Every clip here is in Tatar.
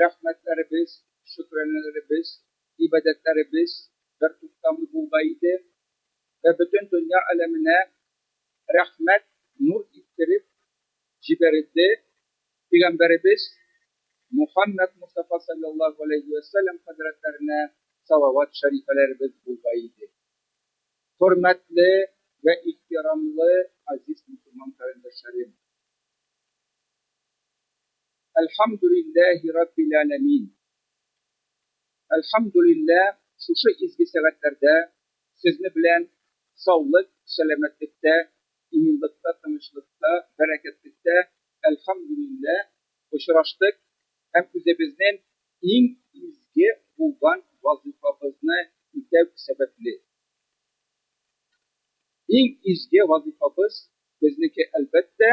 Рәхмәтләребез, шөкранәләребез, гыйбадәтләребез бертуктамый булга иде вә бөтен дөнья аләменә рәхмәт нур иттереп җибәрелде, пигамбәребез Мухаммәд Мостафа салләллаһу галәйһи вә сәлләм хәзрәтләренә салават шәрифәләребез булга иде. Хөрмәтле вә ихтирамлы азиз мөселман карендәшләрем! Әлхәмдүлилләһи раббил әләмин Әлхәмдүлилләһ шушы изге сәгатьләрдә сезне белән саулык, сәламәтлектә, иминлыкта, тынычлыкта, бәрәкәтлектә, әлхәмдүлилләһ, очраштык һәм үзебезнен иң изге булган вазыйфабызны үтәү сәбәпле. Иң изге вазыйфабыз безнеке, әлбәттә,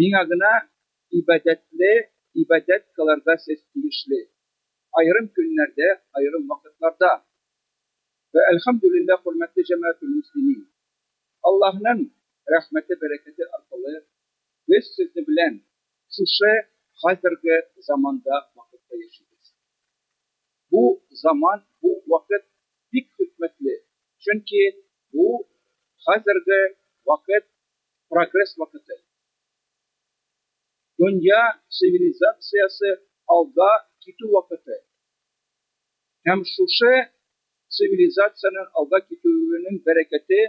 Миңа гына ибадәтле ибадәт кылырга сез тиешле, аерым көннәрдә, аерым вакытларда. Вә әлхәмдүлилләһ, хөрмәтле җәмәгател-мөслимин! Аллаһның рәхмәте-бәрәкәте аркылы без сезне белән шушы хәзерге заманда, вакытта яшибез. Бу заман, бу вакыт бик хикмәтле, чөнки бу хәзерге вакыт прогресс вакыты. Дөнья цивилизациясе алга китү вакыты. Һәм шушы цивилизациянең алга китүенең бәрәкәте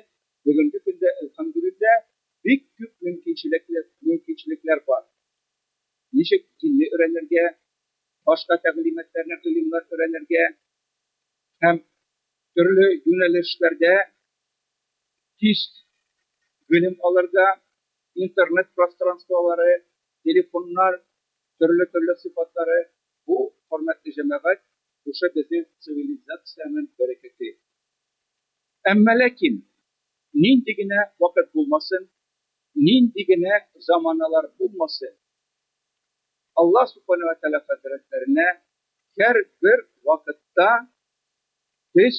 бүгенге көндә, әлхәмдүлилләһ, бик күп мөмкинчелекләр, мөмкинчелекләр бар. Ничек динне өйрәнергә, башка тәгълиматларны, гыйлемнәр өйрәнергә һәм төрле юнәлешләрдә Тист белем алырга интернет пространстволары, телефоннар төрле-төрле сыйфатлары, бу, хөрмәтле җәмәгать, шушы безнең цивилизациянең бәрәкәте. Әмма ләкин, нинди генә вакыт булмасын, нинди генә заманалар булмасын, Аллаһ Субхана вә Тәгалә хәзрәтләренә һәрбер вакытта без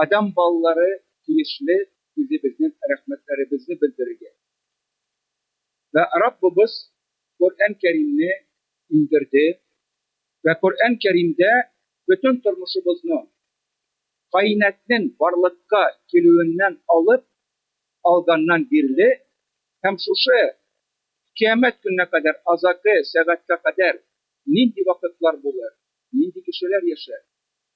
Адәм балалары тиешле үзебезнең рәхмәтләребезне белдерергә. Вә Раббыбыз Коръән Кәримне иңдерде, вә Коръән Кәримдә бөтен тормышыбызның, каинәтнең барлыкка килүеннән алып алганнан бирле һәм шушы Кыямәт көненә кадәр азагы сәгатькә кадәр нинди вакытлар булыр, нинди кешеләр яшәр,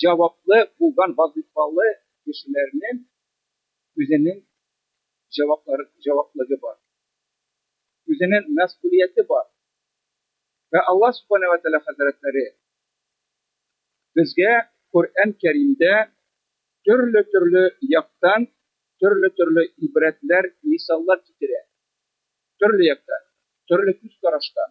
Җаваплы булган вазыйфалы кешеләрнең үзенең җаваплар, җаваплыгы бар. Үзенең мәсгулияте бар. Вә Аллаһ Сүбхәнәһү вә Тәгалә хәзрәтләре безгә Коръән Кәримдә төрле-төрле яктан төрле-төрле ибрәтләр, мисаллар китерә. Төрле яктан, төрле күз караштан.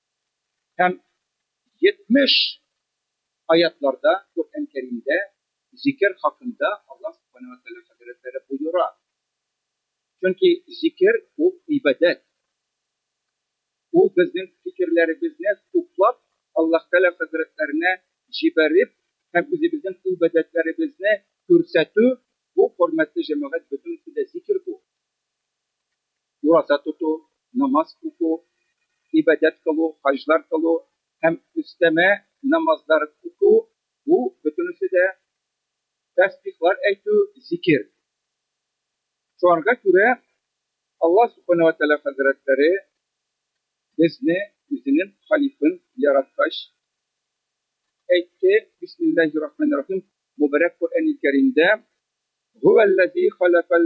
Һәм 70 аятьларда Коръән Кәримдә зикер хакында Аллаһ Субхана ва Тәгалә хәзрәтләре боера. Чөнки зикер ул гыйбадәт. Ул безнең фикерләребезне туплап Аллаһ Тәгалә хәзрәтләренә җибәреп һәм үзебезнең гыйбадәтләребезне күрсәтү, бу хөрмәтле җәмәгать бөтенесе дә зикер бу. ураза тоту, намаз уку, гыйбадәт кылу, хаҗлар кылу һәм өстәмә намазлар уку, бу бөтенесе дә тәсбихлар әйтү, зикер. Шуңарга күрә Аллаһ Субхана вә Тәгалә хәзрәтләре безне үзенең халифын яраткач әйтте, Бисмиллаһи рахмани рахим, мөбарәк Коръәни Кәримдә, Һүәлләзи халәкәл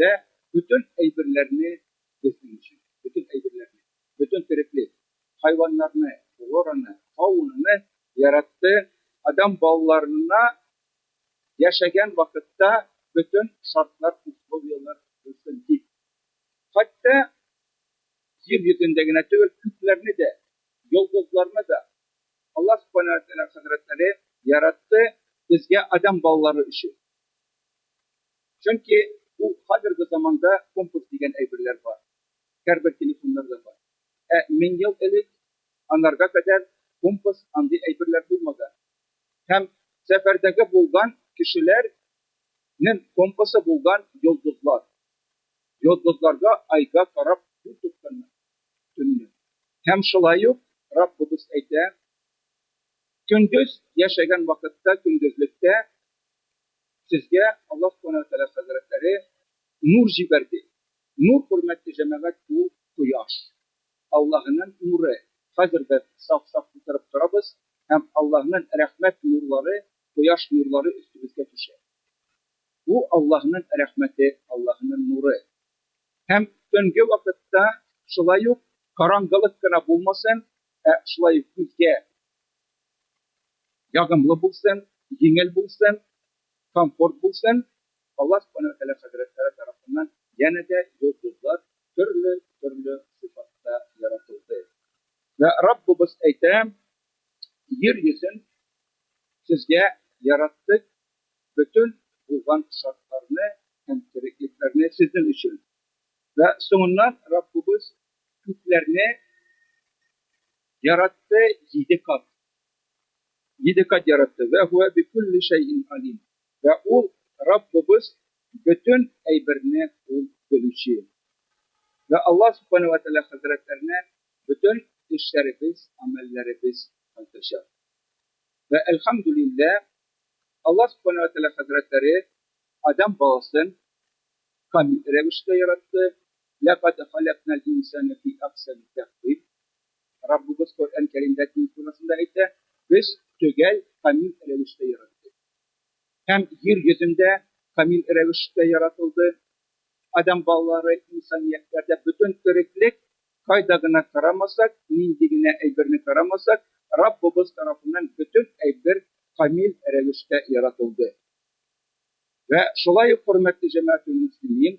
Дә, бөтен әйберләрне, безнең өчен, бөтен әйберләрне, бөтен тереклек, хайваннарны, флораны, фаунаны яратты, адәм балаларына яшәгән вакытта бөтен шартлар, условияләр булсын дип. Хәтта җир йөзендә генә түгел, күкләрне дә, йолдызларны да Аллаһ Субхана уә Тәгалә хәзрәтләре яратты безгә адәм балалары өчен. Чөнки ул хәзерге заманда компас дигән әйберләр бар, һәрбер телефоннарда бар. Ә мең ел элек, анарга кадәр компас андый әйберләр булмаган. Һәм сәфәрдәге булган кешеләр нең компасы булган йолдызлар. Йолдызларга, айга карап юл тотканнар, төнне. Һәм шулай ук Раббыбыз әйтә, Көндез яшәгән вакытта, көндезлектә, Сезгә Аллаһ Субхана ва Тәгалә хәзрәтләре нур җибәрде. Нур, хөрмәтле җәмәгать, ул кояш. Аллаһының нуры. Хәзер без саф-саф утырып торабыз һәм Аллаһның рәхмәт нурлары, кояш нурлары өстебезгә төшә. Бу, Аллаһның рәхмәте, Аллаһының нуры. Һәм төнге вакытта шулай ук караңгылык кына булмасын, ә шулай ук күзгә ягымлы булсын, җиңел булсын, комфорт булсын. Алла Субхана Вәтәгалә хәзрәтләре тарафыннан янә дә йолдызлар төрле-төрле сыйфатта яратылды. Вә Раббыбыз әйтә, Йир йөзен сезгә яраттык, бөтен булган шартларны һәм тереклекләрне сезнең өчен. Вә соңыннан Раббыбыз Күкләрне яратты җиде кат. Җиде кат яратты. Вә һуә би кулли шәйин алим. Вә ул, Раббыбыз, бөтен әйберне ул белүче. Вә Аллаһ Субханәһү вә Тәгалә хәзрәтләренә бөтен эшләребез, амәлләребез кайтачак. Вә әлхәмдүлилләһ, Аллаһ Субханәһү вә Тәгалә хәзрәтләре Адәм баласын камил рәвештә яратты, Ләкад халәкнәл инсәнә фи әхсәни тәкъвим. Раббыбыз Коръән Кәримдә көн турысында әйтә, Без төгәл, камил рәвештә яраттык. Һәм җир йөзендә камил рәвештә яратылды. Адәм балалары, инсаниятләрдә бөтен тереклек, кайда гына карамасак, нинди генә әйберне карамасак, Раббыбыз тарафыннан бөтен әйбер камил рәвештә яратылды. Вә шулай ук, хөрмәтле җәмәгател мөслимин,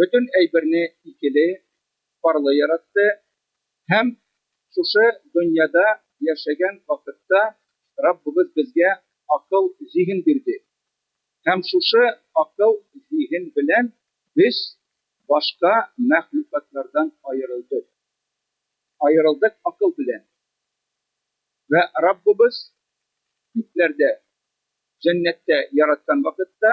бөтен әйберне икеле, парлы яратты һәм шушы дөньяда яшәгән вакытта Раббыбыз безгә акыл-зиһен бирде һәм шушы акыл-зиһен белән без башка мәхлукатлардан аерылдык. Аерылдык акыл белән. Вә Раббыбыз күкләрдә, җәннәттә яраткан вакытта,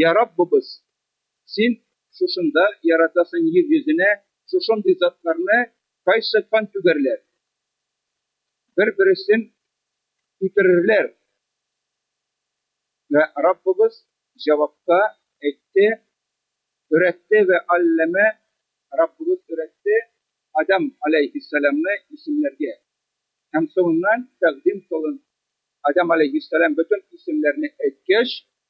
Йа Раббыбыз! Син шушында яратасың йир йөзенә шушындый затларны Кайсы кан түгәрләр бер бересен үтерерләр Вә Раббыбыз җавапта әйтте Өйрәтте вә алләмә Раббыбыз өйрәтте Адәм аләйһиссәламны исемләргә Һәм соңыннан тәкъдим кылын Адәм аләйһиссәлам бөтен исемләрне әйткәч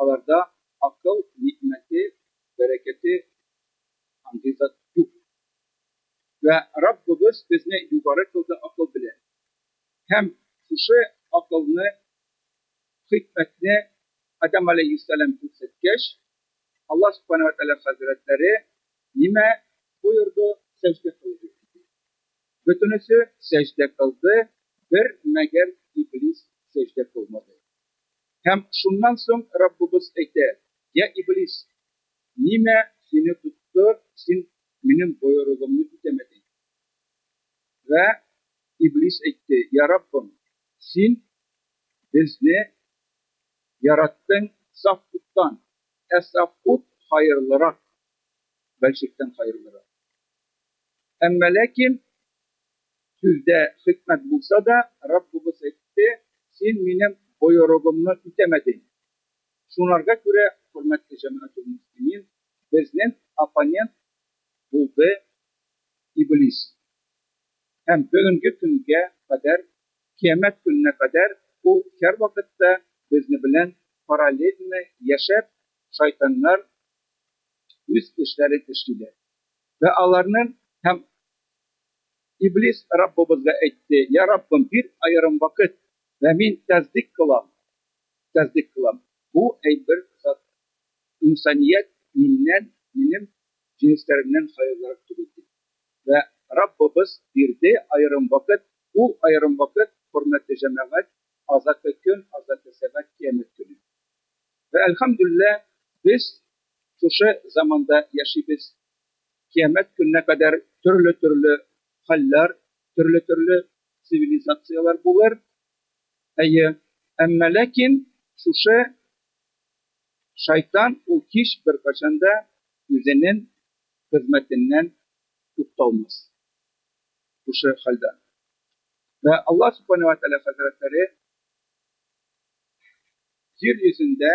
Аларда акыл нигъмәте, бәрәкәте андый зат юк. Вә Раббыбыз безне югары кылды акыл белән. Һәм шушы акылны, хикмәтне Адәм галәйһиссәлам күрсәткәч, Аллаһ Субхана вә Тәгалә хәзрәтләре нимә боерды? Сәҗдә кылыгыз! диде. Бөтенесе сәҗдә кылды, бер мәгәр Иблис сәҗдә кылмады. Һәм шуннан соң Раббыбыз әйтә, Йә Иблис, нимә сине тотты, син Минем боерыгымны үтәмәдең? Вә Иблис әйтте, Йә Раббым, Син безне яраттың саф уттан, ә саф ут хаерлырак, бәлчектән хаерлырак. Әмма ләкин Сүздә хикмәт булса да, Раббыбыз әйтте, Син Минем боерыгымны үтәмәдең. Шунарга күрә, хөрмәтле җәмәгател-мөслимин, безнең оппонент булды Иблис. Һәм бүгенге көнгә кадәр, Кыямәт көненә кадәр ул һәрвакытта безне белән параллельно яшәп, шайтаннар үз эшләрен эшлиләр. Вә аларның һәм Иблис Раббыбызга әйтте, Йә Раббым, бир аерым вакыт, вә мин тәсдикъ кылам, тәсдикъ кылам. Бу, әй бер зат, инсаният миннән, минем җенесләремнән хәерлерәк түгел, диде. Вә Раббыбыз бирде аерым вакыт, ул аерым вакыт, хөрмәтле җәмәгать, азакы көн, азакы сәгать, кыямәт көне. Вә әлхәмдүлилләһ, без шушы заманда яшибез, Кыямәт көненә кадәр төрле-төрле хәлләр, төрле-төрле цивилизацияләр булыр. Әйе, әмма ләкин шушы Шайтан ул һич беркайчан да үзенен хезмәтеннән тукталмас шушы хәлдә. Вә Аллаһ Субхана вә Тәгалә хәзрәтләре Җир йөзендә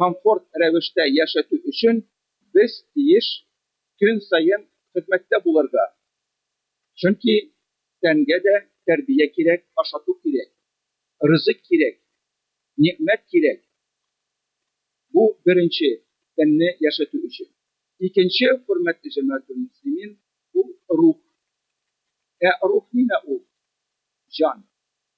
комфорт рәвештә яшәтү өчен без тиеш көн саен хезмәттә булырга. Чөнки тәнгә дә тәрбия кирәк, ашату кирәк, ризык кирәк, нигъмәт кирәк. Бу беренче, тәнне яшәтү өчен. Икенче, хөрмәтле җәмәгатьтелмөслимин, ул, рух. Ә рух нимә ул? Җан.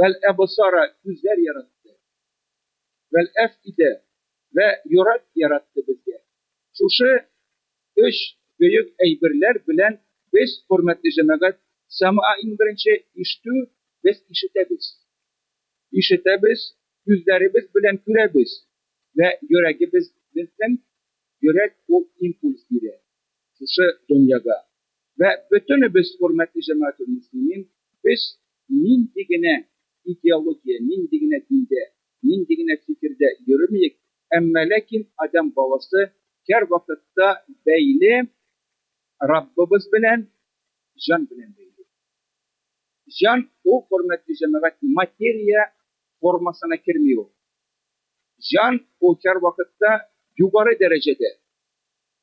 вәл әбсара, күзләр яратты, вәл әфидә, вә йөрәк яратты безгә. Шушы өч бөек әйберләр белән без, хөрмәтле җәмәгать, сәмъа иң беренче, ишетү, без ишетәбез. Ишетәбез, күзләребез белән күрәбез, вә йөрәгебез, безнең йөрәк ул импульс бирә шушы дөньяга. Вә бөтенебез, хөрмәтле җәмәгател мөслимин, без нинди генә идеология, нинди генә диндә, нинди генә фикердә йөремиек, әмма ләкин адәм баласы кәрвакытта бәйле Раббыбыз белән, җан белән бәйле. Җан ул, хөрмәтле җәмәгать, материя формасына керми ул. Җан ул кәрвакытта югары дәрәҗәдә.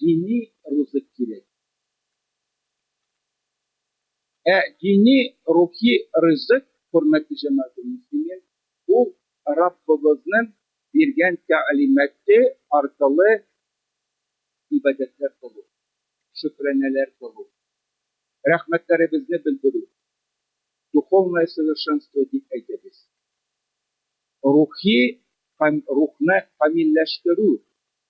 Дини рузык кирәк. Ә дини, рухи ризык, хөрмәтле җәмәгатье мөслимин, ул Раббыбызның биргән тәгълиматы аркылы ибадәтләр кылу, шөкранәләр кылу, рәхмәтләребезне белдерү, духовное совершенство дип әйтәбез, рухи һәм рухны камилләштерү,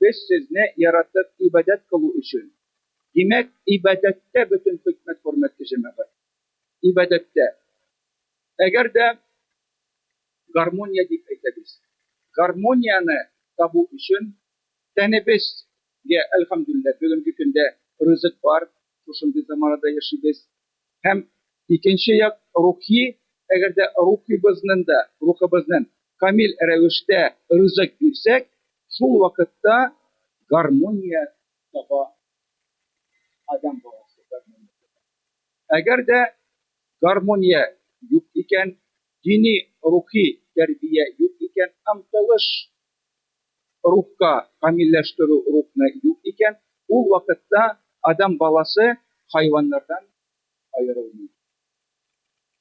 Без сезне яратып ибадәт кылу өчен. Димәк, ибадәттә бөтен хикмәт хөрмәтле җәмәгать. Ибадәттә. Әгәр дә гармония дип әйтәбез. Гармонияне табу өчен тәнебез гә әлхәмдүлилләһ, бүгенге көндә ризык бар, шушындый заманада яшибез, Һәм икенче як рухи, әгәр дә рухыбызны да, рухыбызны камил рәвештә ризык бирсәк, шул вакытта гармония таба адәм баласы, гармония таба. Әгәр дә гармония юк икән, дини-рухи тәрбия юк икән, омтылыш рухка камилләштерү рухны юк икән, ул вакытта адәм баласы хайваннардан аерылмый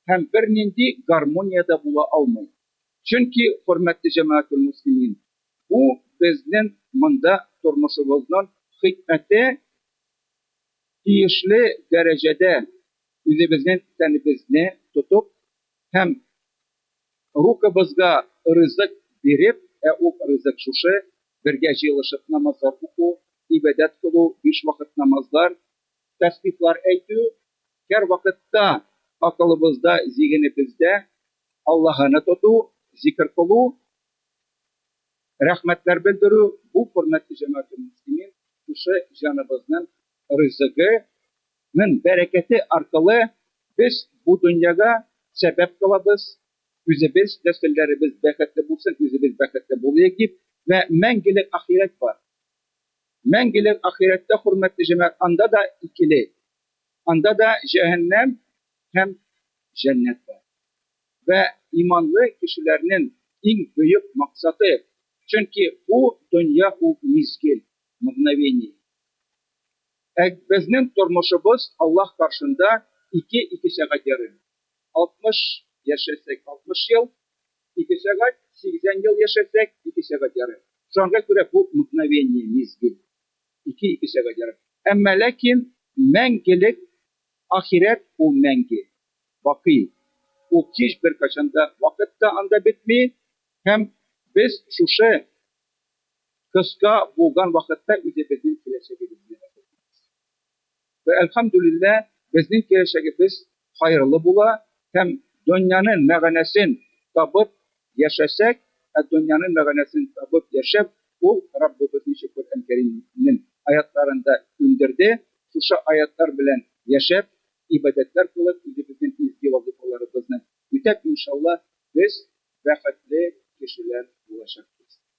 һәм бернинди гармония дә була алмый. Чөнки, хөрмәтле җәмәгателмөслимин, бу безнең монда тормышыбызның хикмәте, тиешле дәрәҗәдә үзебезнең тәнебезне тотып һәм Рухыбызга ризык биреп, ә ул ризык шушы, бергә җыелышып намазлар уку, гыйбадәт кылу, биш вакыт намазлар, тәсбихлар әйтү, һәрвакытта акылыбызда, зигенебездә Аллаһыны тоту, зикер кылу, рәхмәтләр белдерү, бу, хөрмәтле җәмәгател-мөслимин, шушы җаныбызның ризыгы, Ның бәрәкәте аркылы без бу дөньяга сәбәп кылабыз, үзебез, нәселләребез бәхетле булсын, үзебез бәхетле булыйк дип, вә мәңгелек ахирәт бар. Мәңгелек ахирәттә, хөрмәтле җәмәгать, анда да икеле, анда да җәһәннәм һәм җәннәт бар. Вә иманлы кешеләрнен иң бөек максаты, чөнки бу дөнья ул мизгел, мгновение. Ә безнең тормышыбыз Аллаһ каршында ике ике сәгать ярым. Алтмыш яшәсәк, алтмыш ел, ике сәгать, сигезән ел яшәсәк, ике сәгать ярым. Шуңа күрә бу мгновение, мизгел, ике ике сәгать ярым. Әмма ләкин мәңгелек ахирәт ул мәңге, бакый. Ул кич беркайчан да, вакыт та анда бетми һәм без шушы Кыска булган вакытта үзебезнең киләчәгебезне дә белмибез. Вә әлхәмдүлиллә, безнең киләчәгебез хәерле була һәм дөньяның мәгънәсен табып яшәсәк, ә дөньяның мәгънәсен табып яшәп, ул Раббыбыз ничек Коръән Кәримнең аятларында күндерде, шушы аятлар белән яшәп, ибадәтләр кылып, үзебезнең изге вазыйфаларыбызны үтәп, иншалла, без бәхетле кешеләр булачакбыз.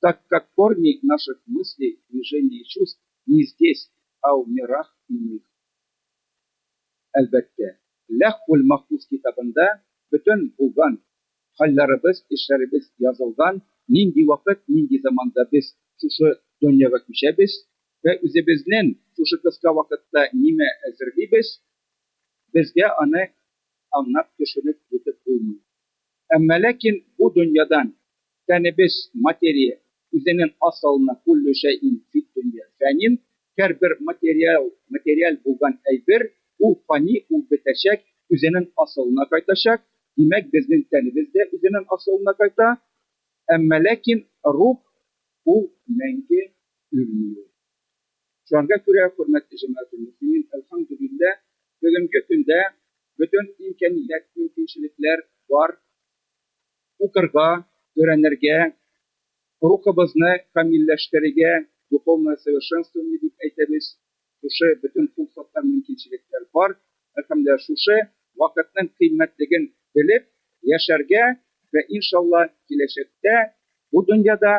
так как корни наших мыслей, движений и чувств не здесь, а в мирах иных. Әлбәттә, Ләүһ-уль-Мәхфуз китабында бөтен булган, хәлләребез, эшләребез язылган, нинди вакыт, нинди заманда без шушы дөньяга күчәбез вә үзебезнен шушы кыска вакытта нимә әзерлибез, безгә аны аңнап төшенеп бетеп булмый. Әмма ләкин бу дөньядан Тәнебез, материя, үзенен асылына кулле шәйин фид дөнья фәнин, һәр бер материал, материаль булган әйбер, ул фани, ул бетәчәк, үзенен асылына кайтачак, димәк, безнен тәнебез дә үзенен асылына кайта, әмма ләкин рух, ул мәңге үлми ул. Шуңарга күрә, хөрмәтле җәмәгател мөслимин, әлхәмдүлиллә, бүгенге көндә бөтен имкәният, мөмкинчелекләр бар, Укырга, өйрәнергә, рухыбызны камилләштерергә, духовное совершенствование дип әйтәбез, шушы бөтен функцияттә мөмкинчелекләр бар. Әлхәмдүлиллаһ, шушы вакытның кыйммәтлеген белеп яшәргә вә иншаллаһ киләчәктә бу дөньяда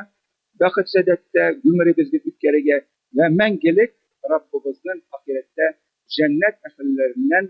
бәхет-сәадәттә гомеребезне үткәрергә вә мәңгелек Раббыбызның ахирәттә җәннәт әһелләреннән